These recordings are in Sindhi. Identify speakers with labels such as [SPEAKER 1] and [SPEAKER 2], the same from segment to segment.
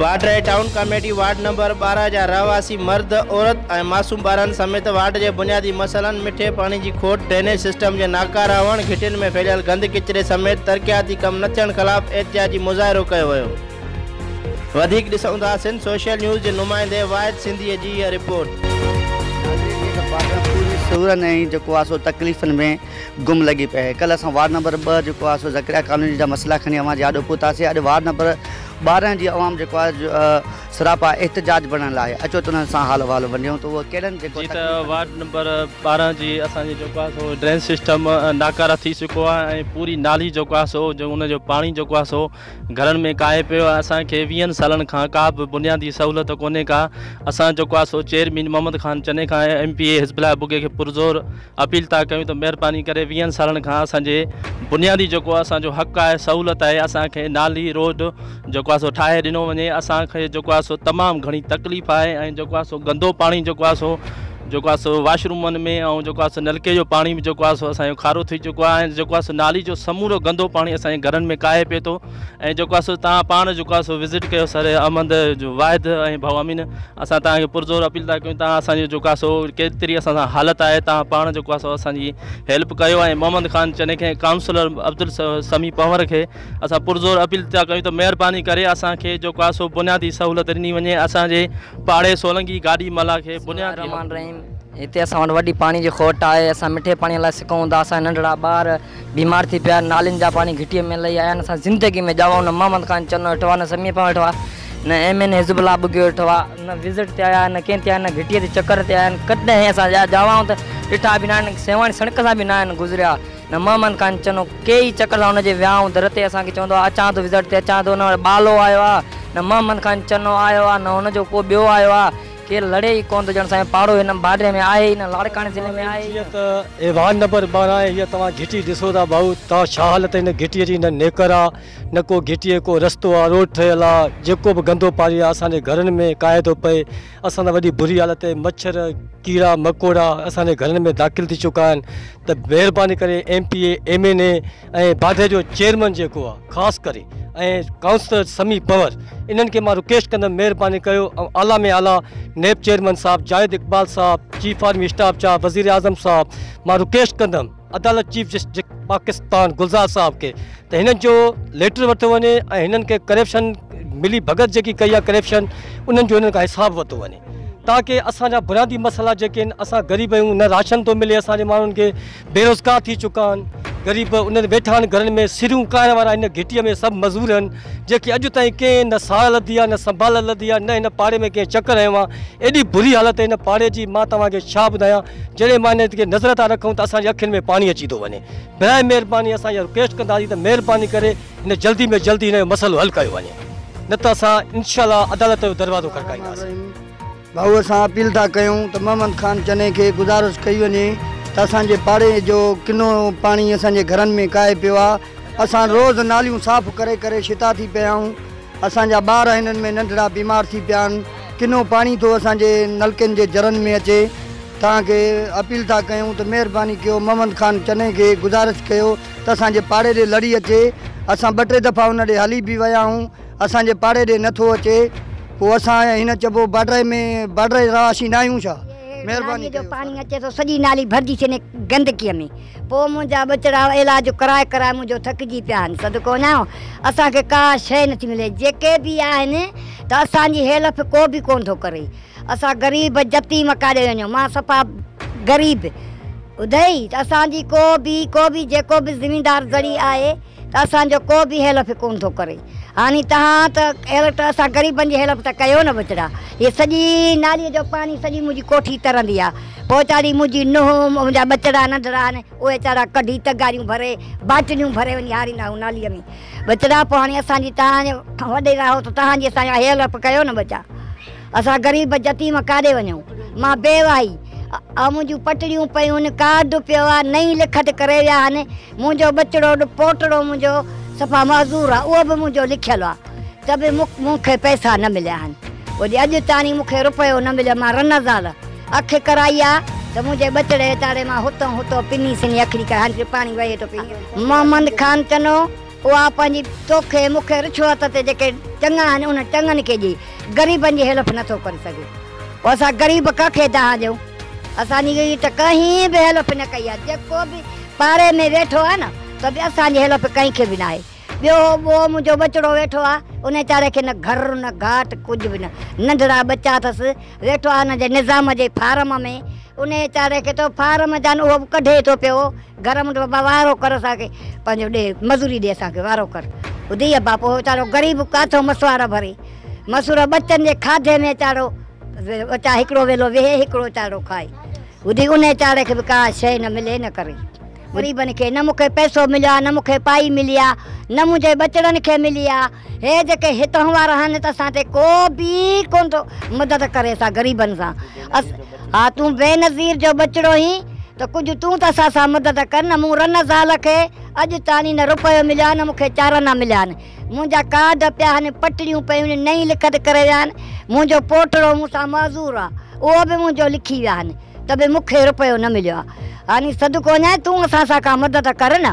[SPEAKER 1] Badri town committee ward number ٻارهن جا رهواسي مرد، عورت ۽ معصوم ٻارن سميت وارڊ جي بنيادي مسئلن مٺي پاڻي جي کوٽ، ڊرينيج سسٽم جي ناڪاره هئڻ، گهٽين ۾ ڦهليل گند ڪچري سميت ترقياتي ڪم نه ٿيڻ خلاف احتجاجي مظاهرو ڪيو ويو. وڌيڪ ڏسون ٿا سنڌ سوشل نيوز جي نمائندي واحد سنڌيء جي اھا رپورٽ. ناظرين جي ته پاٽيان پوري
[SPEAKER 2] سورن ۽ جيڪو آ سو تڪليفن ۾ گم لڳي پئي آھي ڪلھ اسان وارڊ نمبر ٻه جيڪو آ سو زڪريا ڪالوني جا مسئلا کڻي اوھان جي آڏو پھتاسي اڄ وارڊ نمبر ٻارهن جي عوام جيڪو آ سراپا احتجاج بڻڻ لاء اچو ته انھن سان حال احوال ونڊيون ته اھو ڪھڙن جيڪو جي ته وارڊ نمبر
[SPEAKER 3] ٻارهن جي اسان جي جيڪو آ سو ڊرين سسٽم ناڪاره ٿي چڪو آ ۽ پوري نالي جيڪو آ سو جو ان جو پاڻي جيڪو آ سو گهرن ۾ ڪاهي پيو آهي اسان کي ويهن سالن کان ڪا به بنيادي سهولت ڪونهي ڪا اسان جيڪو آهي سو چيئرمين محمد خان چني کان M P A Hizbullah Bagi کي پرزور اپيل ٿا ڪيون ته مهرباني ڪري ويهن سالن کان اسان جي بنيادي جيڪو اسان جو حق آهي سهولت آهي اسان کي نالي روڊ جيڪو آهي سو ٺاهي ڏنو وڃي اسان کي جيڪو آهي سو تمام گهڻي تڪليف آهي ۽ جيڪو آهي سو گندو پاڻي جيڪو آهي سو جيڪو آهي سو واش رومن ۾ ۽ جيڪو آهي سو نلڪي جو پاڻي به جيڪو آهي سو اسانجو کارو ٿي چڪو آهي ۽ جيڪو آهي سو نالي جو سمورو گندو پاڻي اسانجي گهرن ۾ ڪاهي پئي ٿو ۽ جيڪو آهي سو تان پاڻ جيڪو آهي سو وزٽ ڪيو سر احمد جو واحد ۽ ڀائو امين اسان تان کي پرزور اپيل ٿا ڪيون تان اسانجو جيڪو آهي سو ڪيتري اسان سان حالت آهي تان پاڻ جيڪو آهي سو اسانجي هيلپ ڪيو ۽ محمد خان چني کي ڪائونسلر عبدالسميع پنور کي اسان پرزور اپيل ٿا ڪيون ته مهرباني ڪري اسان کي جو ڪا سو بنيادي سهولت ڏني وڃي اسان جي پاڙي سولنگي گاڏي ملاح کي بنيادي بسم الله الرحمٰن الرحيم هتي اسان وٽ
[SPEAKER 4] وڏي پاڻي جي کوٽ آهي اسان مٺي پاڻي لاء سڪون ٿا اسان جا ننڍڙا ٻار بيمار ٿي پيا نالين جا پاڻي گهٽي ۾ لهي آيا آهن اسان زندگي ۾ ڄاوان نه محمد خان چنو ويٺو آهي نه سميع پنهور ويٺو آهي نه M N A Hizbullah Bughio ويٺو آهي نه وزٽ تي آيا آهن نه ڪنهن تي آيا آهن نه گهٽي تي چڪر تي آيا آهن ڪڏهن اسان جا ڄاوان ته ڏٺا به نه آهن سيوهڻ سڻڪ سان به نه آهن گذريا نه مهمان ڪانه چنو ڪي ئي چڪلا ان جي ويانهون در تي اسان کي چوندو آ اچان ٿو وزٽ تي اچان ٿو نه وٽ ٻالو آيو آ نه مهمان ڪانه چنو آيو آ نه ان جو ڪو ٻيو آيو آ ڪير لڙي ئي ڪونه ٿو ڄڻ سائين پاڙو هن باڊري ۾ آهي ئي نه لاڙڪاڻي ضلعي ۾ آهي ئي نه. جيئن ته ايوان
[SPEAKER 5] نمبر ٻارهن آهي هيء توهان گهٽي ڏسو ٿا ڀائو ته ڇا حالت هن گهٽيء جي نه نيڪر آ نه ڪو گهٽيء ڪو رستو آ روڊ ٺهيل آ جيڪو به گندو پاڻي آ اسان جي گهرن ۾ ڪاهي ٿو پئي اسان سان وڏي بري حالت آهي مڇر ڪيڙا مڪوڙا اسان جي گهرن ۾ داخل ٿي چڪا آهن ته مهرباني ڪري M P A, M N A ۽ Badah جو چيئرمين جيڪو آ خاص ڪري ۽ ڪائونسلر سمي پنور انهن کي مان رڪويسٽ ڪندم مهرباني ڪيو ۽ اعليٰ ۾ اعليٰ نيب چيئرمين صاحب جاويد اقبال صاحب چيف آرمي اسٽاف چاهه وزير اعظم صاحب مان رڪويسٽ ڪندم عدالت چيف جسٽس پاڪستان گلزار صاحب کي ته هنن جو ليٽر ورتو وڃي ۽ هنن کي ڪرپشن ملي ڀڳت جيڪي ڪئي آ ڪرپشن انهن جو هنن کان حساب ورتو وڃي. تاڪه اسان جا بنيادي مسئلا جيڪي آهن اسان غريب آهيون نه راشن ٿو ملي اسان جي ماڻهن کي بيروزگار ٿي چڪا آهن غريب انهن ويٺا آهن گهرن ۾ سريون ڪائڻ وارا هن گهٽيء ۾ سڀ مزور آهن جيڪي اڄ تائين ڪنهن نه ساهه لڌي آهي نه سنڀال لڌي آهي نه هن پاڙي ۾ ڪنهن چڪر هنيو آهي ايڏي بري حالت هن پاڙي جي مان توهان کي ڇا ٻڌايان جڏهن مان هن کي نظر ٿا رکون ته اسان جي اکين ۾ پاڻي اچي ٿو وڃي برائي مهرباني اسان اها رڪويسٽ ڪنداسين ته مهرباني ڪري هن جلدي ۾ جلدي هن جو مسئلو حل ڪيو وڃي نه ته اسان انشاء الله عدالت جو دروازو کڙڪائينداسين. ڀائو
[SPEAKER 2] اسان اپيل ٿا ڪيون ته محمد خان چني کي گذارش ڪئي وڃي ته اسان جي پاڙي جو ڪنو پاڻي اسان جي گهرن ۾ ڪاهي پيو آ اسان روز ناليون صاف ڪري ڪري شتا ٿي پيا آهيون اسان جا ٻار هنن ۾ ننڍڙا بيمار ٿي پيا آهن ڪنو پاڻي ٿو اسان جي نلڪين جي جرن ۾ اچي توهان کي اپيل ٿا ڪيون ته مهرباني ڪيو محمد خان چني کي گذارش ڪيو ته اسان جي پاڙي ڏي لڙي اچي. اسان ٻه ٽي دفعا ان ڏي هلي به ويا آهيون. اسان جي پاڙي ڏي نه ٿو اچي. پوء اسان ۽ هن چئبو بارڊر ۾ بارڊر جا رهواسي ناهيون ڇا؟ مهرباني ڪيو سر. نالي جو پاڻي اچي ٿو
[SPEAKER 6] سڄي نالي ڀرجي ڇڏي گندڪي ۾. پوء منهنجا ٻچڙا علاج ڪرائي ڪرائي منهنجو ٿڪجي پيا آهن. صدقو وڃان اسان کي ڪا شيء نٿي ملي. جيڪي به آهن ته اسان جي هيلپ ڪو به ڪونه ٿو ڪري. اسان غريب يتيم ڪاڏي وڃون مان صفا غريب ادئي ته اسان جي ڪو به ڪو به جيڪو به زميندار زرعي آهي ته اسان جو ڪو به هيلف ڪون ٿو ڪري هاڻي تهان ته هيلف ته اسان غريبن جي هيلف ته ڪيو نه بچڙا هي سڄي نالي جو پاڻي سڄي منهنجي ڪوٺي ترندي آ پوئتاڙي منهنجي نوهه منهنجا ٻچڙا ننڍڙا آهن اهي ويچارا ڪڍي تغاريون ڀري باٽليون ڀري وڃي هاريندا اهو نالي ۾ ٻچڙا پوء هاڻي اسان جي تهان وڏيرا هو ته تهان جي اسان جا هيلف ڪيو نه ٻچا. اسان غريب يتيم ڪاڏي وڃون. مان بي وائي آ منهنجون پٽڙيون پيون ڪارڊ پيو آ نئين لکت ڪري ويا آهن منهنجو ٻچڙو پوٽڙو منهنجو صفا معذور آ اهو به منهنجو لکيل آ ته به مون کي پئسا نه مليا آهن ولي اڄ تاڻي مون کي رپيو نه مليو مان رن زال اک ڪرائي آ ته منهنجي ٻچڙي تاڙي مان هتو هتو پني سني اکڙي ڪري هاڻي پاڻي وهي ٿو پي محمد خان چنو. اها پنهنجي توکي مون کي رشوت تي جيڪي چڱا آهن انهن چڱن کي ڏئي غريبن جي هيلپ نه ٿو ڪري سگهي پوء اسان غريب ڪنهن کي دانهن ڏيون اسان جي ته ڪنهن به هيلپ نه ڪئي آهي جيڪو به پاڙي ۾ ويٺو آهي نه ته به اسان جي هيلپ ڪنهن کي به نه آهي ٻيو هو ٻئو منهنجو ٻچڙو ويٺو آهي ان ويچاري کي نه گهر نه گهاٽ ڪجهه به نه ننڍڙا ٻچا اٿس ويٺو آهي ان جي نظام جي فارم ۾ ان ويچاري کي تو فارم جان اهو به ڪڍي ٿو پيو گهر منڊ بابا وارو ڪر اسان کي پنهنجو ڏي مزوري ڏي اسان کي وارو ڪر ٻڌي يا باپو ويچارو غريب ڪاٿو مسواڙ ڀري مسور ٻچن جي کاڌي ۾ ويچارو وچا هڪڙو ويلو ويهي هڪڙو ويچارو کائي ٻڌي ان ويچاري کي به ڪا شي نه ملي نه ڪري غريبن کي نه مون کي پئسو مليو آ نه مون کي پائي ملي آ نه منهنجي ٻچڙن کي ملي آ هي جيڪي هتهون وارا آهن ته اسان تي ڪو به ڪون ٿو مدد ڪري اسان غريبن سان اس ها تون بينظير جو ٻچڙو هين ته ڪجهه تون ته اسان سان مدد ڪر نه مون رن زال کي اڄ تاڻي نه روپيو مليو آهي نه مون کي چارانا مليا آهن منهنجا ڪارڊ پيا آهن پٽڙيون پيون نئين لکت ڪري ويا آهن منهنجو پوٽڙو مون سان معذور آهي اهو به منهنجو لکي ويا آهن ته به مون کي روپيو نه مليو آهي هاني صدقو وڃائي تون اسان سان ڪا مدد ڪر نه.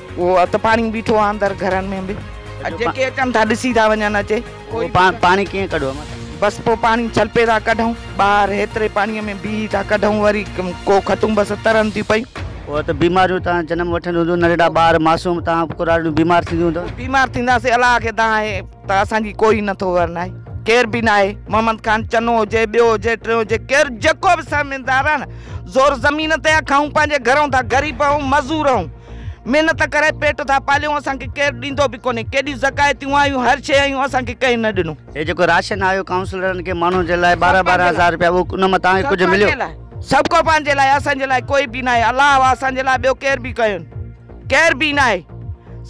[SPEAKER 7] اهو اٿ پاڻي بيٺو
[SPEAKER 8] آهي اندر گهرن ۾ به جيڪي اچن ٿا ڏسي ٿا وڃن اچي. پاڻي ڪيئن
[SPEAKER 7] ڪڍون ماتا. بس پوء پاڻي
[SPEAKER 8] ڇلپي ٿا ڪڍون ٻاهر هيتري پاڻي ۾ بيهي ٿا ڪڍون وري ڪو کٽون بس ترن ٿيون پيون. اهو ته بيماريون
[SPEAKER 7] تان جنم وٺن هونديون ننڍڙا ٻار معصوم تان ڪراڙيون بيمار ٿينديون هونديون. بيمار ٿينداسين الله
[SPEAKER 8] کي دانهن آهي ته اسان جي ڪوئي نٿو ور ناهي ڪير به ناهي محمد خان چنو هجي ٻيو هجي ٽيون هجي ڪير جيڪو به سرميندار آهي نه زور زمين تي آهي کائون پنهنجي گهرون ٿا غريب آهون مزور آهون. محنت ڪري پيٽ ٿا پاليون اسان کي ڪير ڏيندو به ڪونهي ڪيڏيون زڪايتيون آيون هر شي آيون اسان کي ڪنهن نه ڏنو. هي جيڪو راشن آيو
[SPEAKER 7] ڪائونسلرن کي ماڻهن جي لاء ٻارهن ٻارهن هزار رپيا اهو ان مان توهان کي ڪجهه مليو؟ سڀ ڪو پنهنجي
[SPEAKER 8] لاء اسان جي لاء ڪوئي به ناهي الله واهه اسان جي لاء ٻيو ڪير به ڪين ڪير به ناهي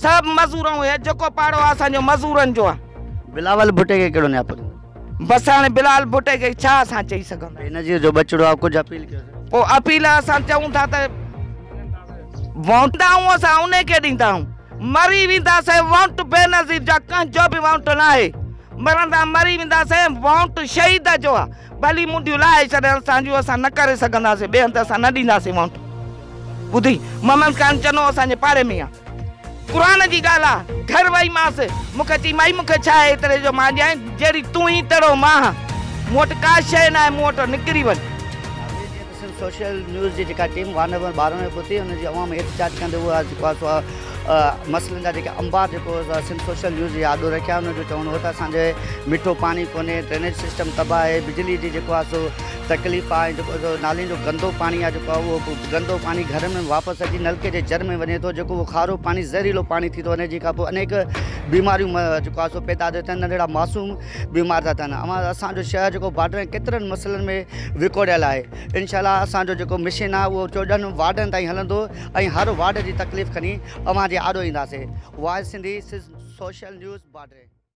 [SPEAKER 8] سڀ مزور ۽ هي جيڪو پاڙو آهي اسان جو مزورن جو آهي. بلاول ڀٽي
[SPEAKER 7] کي ڪهڙو نياپو ڏنو؟ بس هاڻي
[SPEAKER 8] بلال ڀٽي کي ڇا اسان چئي سگهندا. بينظير جو ٻچڙو آء
[SPEAKER 7] ڪجهه اپيل ڪيو سين. پوء اپيل اسان
[SPEAKER 8] چئون ٿا ته وونٽ آهون اسان انهي کي ڏيندا آهون مري ويندا سين وونٽ بينظير جا ڪنهن جو به وونٽ ناهي مرندا مري ويندا سين وونٽ شهيد جو آ ڀلي منڊيون لاهي ڇڏن اسان جون اسان نه ڪري سگهندا سين ٻئي هنڌ اسان نه ڏيندا سين وونٽ ٻڌي محمد خان چنو اسان جي پاڙي ۾ آ. قرآن جي ڳالهه آ. گهر وئي مانس. مون کي چئي مائي مون کي ڇا آهي ايتري جو مان ڏيانء جهڙي تون هي تهڙو مان هان. مون وٽ ڪا شيء ناهي مون وٽان نڪري وڃ. ناظرين جيئن ته سنڌ
[SPEAKER 7] سوشل نيوز جي جيڪا ٽيم وارڊ نمبر ٻارهن ۾ پهتي ان جي عوام احتجاج ڪندي اها جيڪو آ سو مسئلن جا جيڪي انبار جيڪو سنڌ سوشل نيوز جي آڏو رکيا ان جو چوڻ هو ته اسان جي مٺو پاڻي ڪونهي ڊرينيج سسٽم تباهه آهي بجلي جي جيڪو آ سو تڪليف آ جيڪو نالين جو گندو پاڻي آ جيڪو اهو گندو پاڻي گهرن ۾ واپس اچي نلڪي جي جر ۾ وڃي ٿو جيڪو اهو کارو پاڻي زهريلو پاڻي ٿي ٿو وڃي جنهن کان پوء انيڪ بيماريون جيڪو آ سو پيدا ٿيون ٿين ننڍڙا معصوم بيمار ٿا ٿين اوهان اسانجو شهر جيڪو بارڊرن ڪيترن مسئلن ۾ وڪوڙيل آهي انشاء الله اسانجو جيڪو مشن آ اهو چوڏهن وارڊن تائين هلندو ۽ هر وارڊ جي تڪليف کڻي اوهان جي آڏو اينداسين واعظ سنڌي سوشل نيوز بارڊري